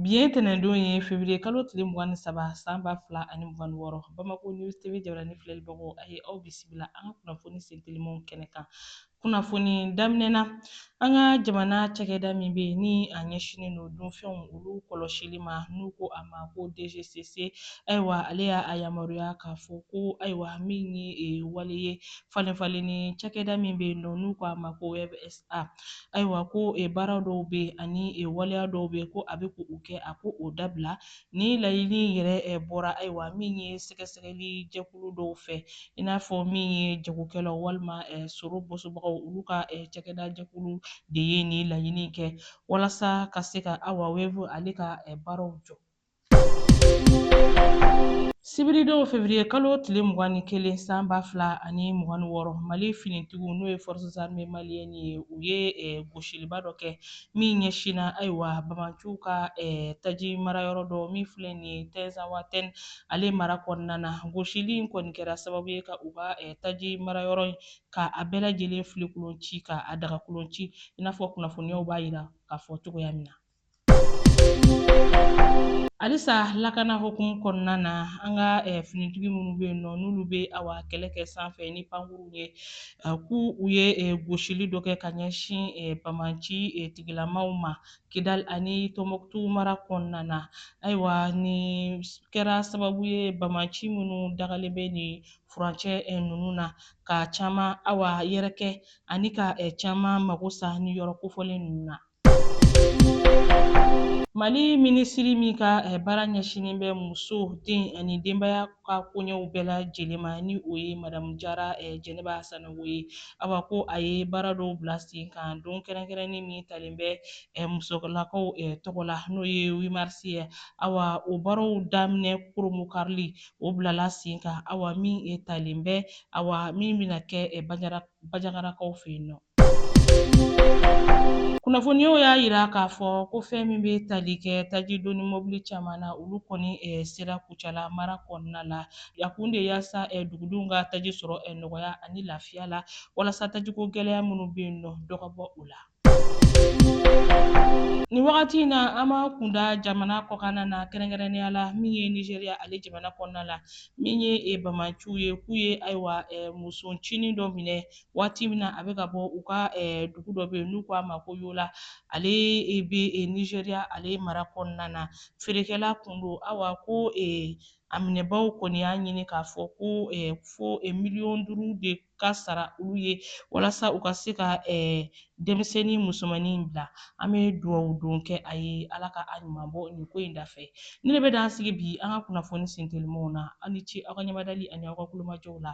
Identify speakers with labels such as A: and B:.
A: Bi ye tɛnɛndon ye fevrier kalo tile mugan ni saba san ba fila ani mugan ni wɔɔrɔ Bamako News TV jabaranin filɛlibagaw a ye aw bisimila an ka kunnafoni sen telimanw kɛnɛ kan. Kunnafoni daminɛ na, an ka jamana cakɛda min bɛ yen ni a ɲɛsinnen don dunfɛnw olu kɔlɔsili ma n'u ko a ma ko DGCC, ayiwa ale y'a a yamaruya k'a fɔ ko ayiwa min ye wale ye falenfalenni cakɛda min bɛ yen nɔ n'u ko a ma ko Wave S. A, ayiwa ko e baara dɔw bɛ yen ani e waleya dɔw bɛ yen ko a bɛ k'u kɛ a k'o dabila nin laɲini yɛrɛ e bɔra ayiwa min ye sɛgɛsɛgɛli jɛkulu dɔw fɛ i n'a fɔ min ye jagokɛlaw walima e sɔrɔ bɔsobagaw olu ka e cakɛda jɛkulu de ye nin laɲini kɛ walasa ka se ka awa Wave ale ka e baaraw jɔ. sibiridon fevrier kalo tile mugan ni kelen san ba fila ani mugan ni wɔɔrɔ mali finitigiw n'o ye forces armées maliennes ye u ye eh, gosiliba dɔ kɛ min ɲɛsinna ayiwa bamanciw ka eh, taji marayɔrɔ dɔ min filɛ nin ye tɛnzawatɛn ale mara kɔnɔna na gosili in kɔni kɛra sababu ye ka u ka eh, taji marayɔrɔ in ka a bɛɛ lajɛlen filenkolon ci ka a dagakolon ci i n'a fɔ kunnafoniyaw b'a yira k'a fɔ cogoya min na Halisa lakana hukumu kɔnɔna na an ka eh, finitigi minnu bɛ yen nɔ n'olu bɛ awa kɛlɛ kɛ sanfɛ ni pankuruw ye eh, k'u u ye eh, gosili dɔ kɛ ka ɲɛsin bamanci tigilamaw ma kidali ani tɔnbɔkutu mara kɔnɔna na ayiwa nin kɛra sababu ye bamanci minnu dagalen bɛ nin furancɛ ninnu na ka caman awa yɛrɛkɛ ani ka caman mago sa nin yɔrɔ kofɔlen ninnu na Mali minisiri min ka eh, baara ɲɛsinnen bɛ muso den ani denbaya ka koɲɛw bɛɛ lajɛlen ma ni o ye madamu jara eh, jɛnɛba sanogo ye awa ko a ye baara dɔw bila sen kan don kɛrɛnkɛrɛnnen min talen bɛ eh, musolakaw tɔgɔ la n'o ye huit mars ye awa o baaraw daminɛ koromo karili o bilala sen kan awa min talen bɛ awa min bɛna kɛ bajagarakaw fɛ yen nɔ kunnafoniyaw y'a yira k'a fɔ ko fɛn min bɛ tali kɛ taji doni mɔbili caman na olu kɔni eh, sera kucala mara kɔnɔna la a kun de yaasa eh, dugudenw ka taji sɔrɔ eh, nɔgɔya ani lafiya la walasa tajiko gɛlɛya minnu bɛ yen nɔ dɔ ka bɔ o la Nin wagati in na an b'a kun da jamana kɔkanna na kɛrɛnkɛrɛnnenya la min ye Nizeriya ale jamana kɔnɔna la min ye e bamaciw ye k'u ye ayiwa e, musoncinin dɔ minɛ waati min na a bɛ ka bɔ u ka dugu dɔ bɛ yen n'u ko a ma ko yola ale bɛ nizeriya ale mara kɔnɔna na feerekɛla kun don awa ko a minɛbaaw kɔni y'a ɲini k'a fɔ ko fo miliyɔn duuru de ka sara olu ye walasa u ka se ka denmisɛnnin musomannin in bila an bɛ duwawu don kɛ a ye ala ka a ɲuman bɔ nin ko in dafɛ nin de bɛ dan sigi bi an ka kunnafoni sentelimanw na aw ni ce aw ka ɲɛmadali ani aw ka tulomajɔ la